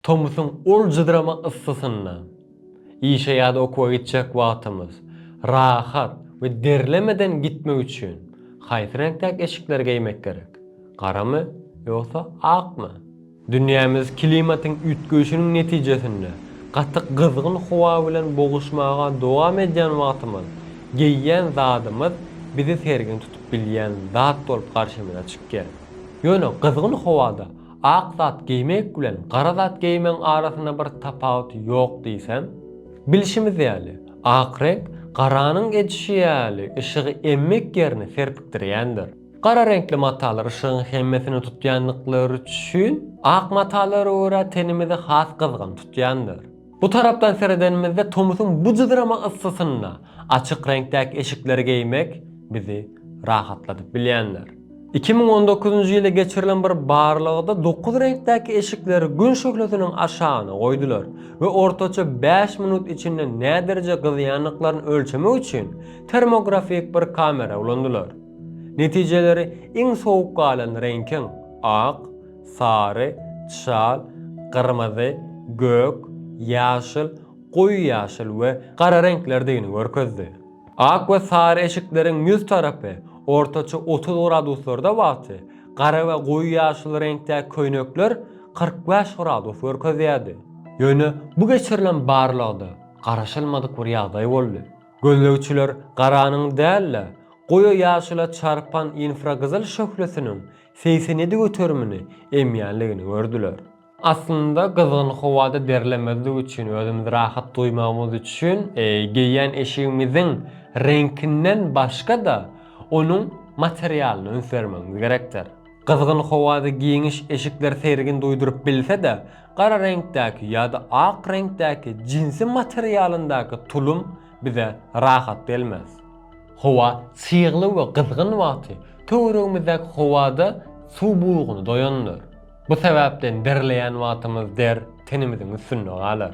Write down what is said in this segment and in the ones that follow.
Tomusyň ol jydrama yssysynda, işe ýa-da okuwa gitjek wagtymyz rahat we derlemeden gitmek üçin haýsy reňkdäki eşikleri geýmek gerek? Garamy ýogsa akmy? Dünýämiz klimatyň üýtgeýşiniň netijesinde gaty gyzgyn howa bilen boguşmaga dowam edýän wagtymyz geýýän zadymyz bizi sergin tutup bilýän zat bolup garşymyza çykýar. Ýöne gyzgyn howada Ak zat geýmek bilen gara zat geýmegiň arasynda bir tapawut ýok diýsem. Bilşimiz ýaly, ak reňk garanyň edişi ýaly yşygy emmek ýerini serpikdirýändir. Gara reňkli matalar yşygyň hemmesini tutýandyklary üçin, ak matalara görä tenimizi has gyzgyn tutýandyr. Bu tarapdan seredenimizde tomusyň bu jyzrama yssysynda açyk reňkdäki eşikleri geýmek bizi rahatladyp bilýändir. Iki müň on dokuzynjy ýylda geçirilen bir barlagda dokuz reňkdäki eşikleri Gün şöhlesiniň aşagyna goýdular we ortaça bäş minut içinde nädereje gyzýandyklaryny ölçemek üçin termografik bir kamera ulandylar. Netijeleri iň sowuk galan reňkiň, ak, sary, çal, gyrmyzy, gök, ýaşyl, goýy ýaşyl we gara reňklerdigini görkezdi. Ak we sary eşikleriň ýüz tarapy ortaça otuz graduslarda wagty gara we goýy ýaşyl reňkdäki köýnekler kyrk bäş gradus görkezýärdi. Ýöne bu geçirilen barlagda garaşylmadyk bir ýagdaý boldy. Gözlegçiler garanyň däl-de, goýy ýaşyla çarpan infragyzyl şöhlesiniň Seýsenedi göterimini emýänligini gördüler. Aslynda gyzgyn howada derlemezlik üçin, özümizi rahat duýmagymyz üçin geýýän eşigimiziň reňkinden başga-da, onuň materialyna üns bermegimiz gerekdir. Gyzgyn howada giňiş eşikler seýrgin duýduryp bilse-de, gara reňkdäki ýa-da ak reňkdäki jinsi materialyndaky tulum bize rahat gelmez. Howa çygly we gyzgyn wagty töweregimizdäki howada suw buguny doýandyr. Bu sebäpden derleýän wagtymyz der tenimiziň üstünde galar.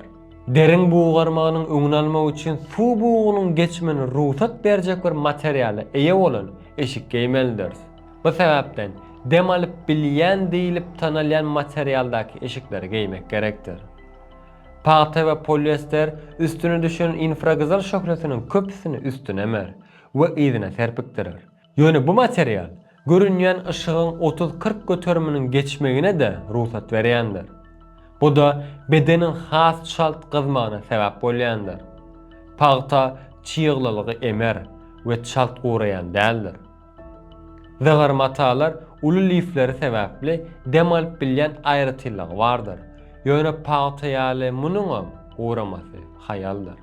Deriň bugarmagynyň öňüni almak üçin suw bugunyň geçmegine rugsat berjek bir materiala eýe bolan eşik geýmelidiris. Bu sebäpden dem alyp bilýän diýlip tanalýan materialdaky eşikleri geýmek gerekdir. Pagta we poliester üstüne düşen infragyzyl şöhlesiniň köpüsini üstüne emer we yzyna serpikdirer. Ýöne bu material görünýän yşygyň otuz-kyrk göteriminiň geçmegine-de rugsat berýändir. Bu-da bedeniň has çalt gyzmagyna sebäp bolýandyr. Pagta çyglylygy emer we çalt guraýan däldir. Zygyr matalar uly lifleri sebäpli dem alyp bilýän aýratynlygy bardyr. Ýöne pagta ýaly munuňam guramasy haýaldyr.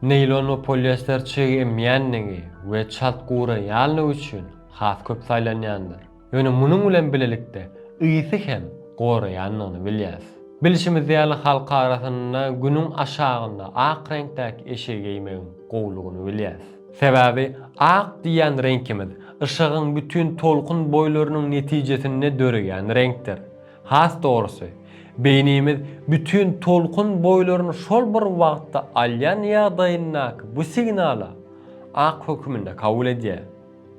Neýlon we poliester çyg emýänligi we çalt guraýanlygy üçin has köp saýlanýandyr. Ýöne munuň bilen bilelikde ysy hem goraýandygyny bilýäs. Bilşimiz ýaly halk arasynda günüň aşagynda ak reňkdäki eşigi geýmegiň gowulygyny bilýäs. Sebäbi ak diýýän reňkimiz yşygyň bütin tolkun boýlarynyň netijesinde döreýän reňkdir. Has dogrusy, beýnimiz bütin tolkun boýlaryny şol bir wagtda alýan ýagdaýyndaky bu signala ak höküminde kabul edýär.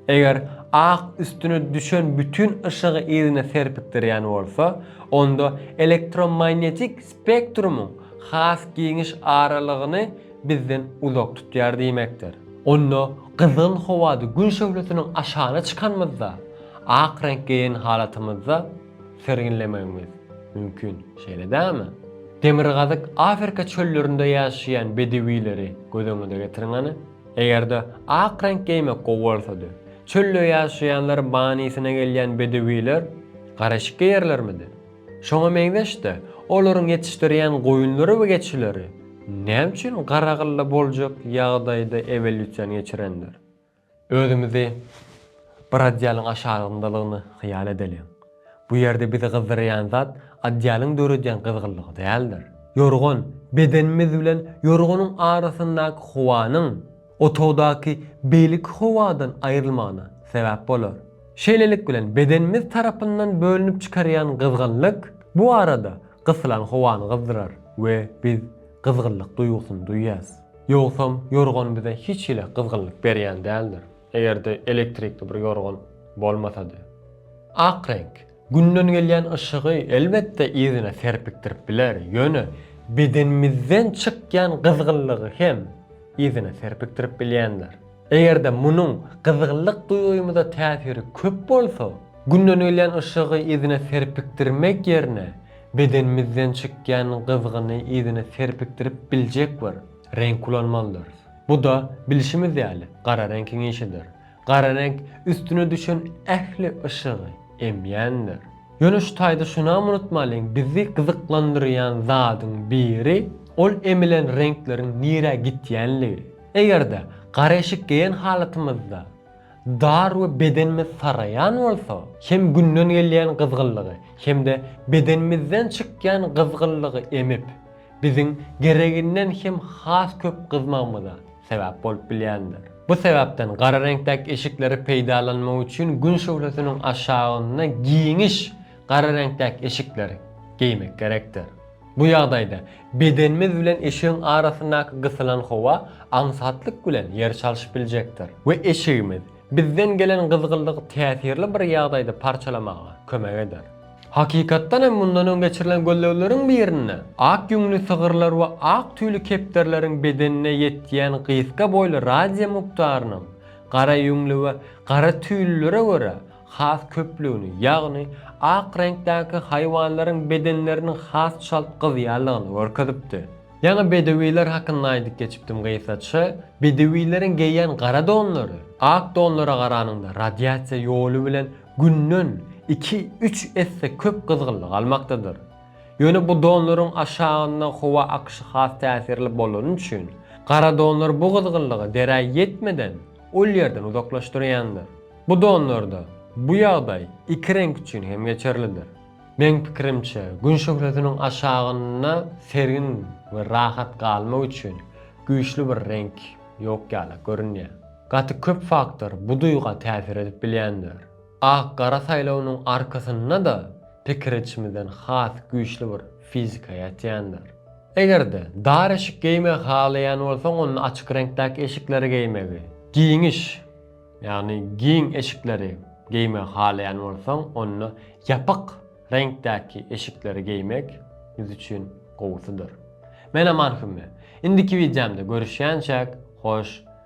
Eger ak üstüne düşen bütin yşygy yzyna serpikdirýän bolsa, onda elektromaýnetik spektrumyň has giňiş aralygyny bizden uzak tutýar diýmekdir. Onda gyzgyn howada Gün şöhlesiniň aşagyna çykanymyzda, ak reňk geýen halatymyzda serginlemegimiz mümkin, şeýle dälmi? Demirgazyk Afrika çöllerinde ýaşaýan bedewileri göz öňüňize getiriň hany. Eger-de ak reňk geýmek gowy bolsady, çölde ýaşaýanlar manysyna gelýän bedewiler garyşyk geýerlermidi? Şoňa meňzeş-de, olaryň ýetişdirýän goýunlary we geçileri näme üçin Garagylda boljak ýagdaýda ewolýusiýany geçirendir? Özümizi bir adýalyň aşagyndalygyny hyýal edeliň. Bu ýerde bizi gyzdyrýan zat adýalyň döredýän gyzgynlygy däldir. Ýorgan, bedenimiz bilen ýorganyň arasyndaky howanyň, Otagdaky beýleki howadan aýrylmagyna sebäp bolar. Şeýlelik bilen bedenimiz tarapyndan bölünip çykarýan gyzgynlyk bu arada gysylan howany gyzdyrar we biz gyzgynlyk duýgusyny duýýas. Ýogsam ýorgan bize hiç hili gyzgynlyk berýän däldir, eger-de elektrikli bir ýorgan bolmasady. Ak reňk, Günden gelýän yşygy, elbetde, yzyna serpikdirip biler, ýöne bedenimizden çykýan gyzgynlygy hem yzyna serpikdirip bilýändir. Eger-de munuň gyzgynlyk duýgymyza täsiri köp bolsa, günden gelýän yşygy yzyna serpikdirmek ýerine bedenimizden çykýan gyzgyny yzyna serpikdirip biljek bir reňk ulanmalydyrys. Bu-da, bilşimiz ýaly, gara reňkiň işidir. Gara reňk üstüne düşen ähli yşygy emýändir. Ýöne şu taýda şunam unutmalyň, bizi gyzyklandyrýan zadyň biri ol emilen reňkleriň nirä gitýänligi. Eger-de gara eşik geýen halatymyzda dar we bedenimiz saraýan bolsa, hem günden gelýän gyzgynlygy, hem-de bedenimizden çykýan gyzgynlygy emip, biziň gereginden hem has köp gyzmagymyza sebäp bolup bilýändir. Bu sebäpden gara reňkdäki eşikleri peýdalanmak üçin Gün şöhlesiniň aşagynda giňiş gara reňkdäki eşikler geýmek gerekdir. Bu ýagdaýda bedenimiz bilen eşigiň arasyndaky gysylan howa aňsatlyk bilen ýer çalşyp biljekdir we eşigimiz bizden gelen gyzgynlygy täsirli bir ýagdaýda parçalamaga kömek eder. Hakykatdan hem mundan öň geçirilen gözlegleriň birinde ak ýüňli sygyrlar we ak tüýli kepderileriň bedenine ýetýän gysga boýly radiýa mukdarynyň gara ýüňli we gara tüýlülere görä has köplügini, ýagny ak reňkdäki haýwanlaryň bedenleriniň has çalt gyzýanlygyny görkezipdi. Ýaňy bedewiler hakynda aýdyp geçipdim gysgaça. Bedewileriň geýýän gara donlary ak donlara garanyňda radiasiýa ýoly bilen günden iki-üç esse köp gyzgynlyk almakdadyr. Ýöne bu donlaryň aşagynda howa akyşy has täsirli bolany üçin, gara donlar bu gyzgynlygy derä ýetmeden ol ýerden uzaklaşdyrýandyr. Bu donlarda bu ýagdaý iki reňk üçin hem geçerlidir. Meň pikirimçe, Gün şöhlesiniň aşagynda sergin we rahat galmak üçin güýçli bir reňk ýok ýaly görünýär. Gaty köp faktor bu duýga täsir edip bilýändir. Ak-gara saýlawynyň arkasynda-da pikir edişimizden has güýçli bir fizika ýatýandyr. Eger-de dar eşik geýmegi halaýan bolsaň, onda açyk reňkdäki eşikleri geýmegi, giňiş, ýagny giň eşikleri geýmegi halaýan bolsaň, onda ýapyk reňkdäki eşikleri geýmek biz üçin gowusydyr. Men Aman Hümme. Indiki wideomda görüşýänçäk, hoş.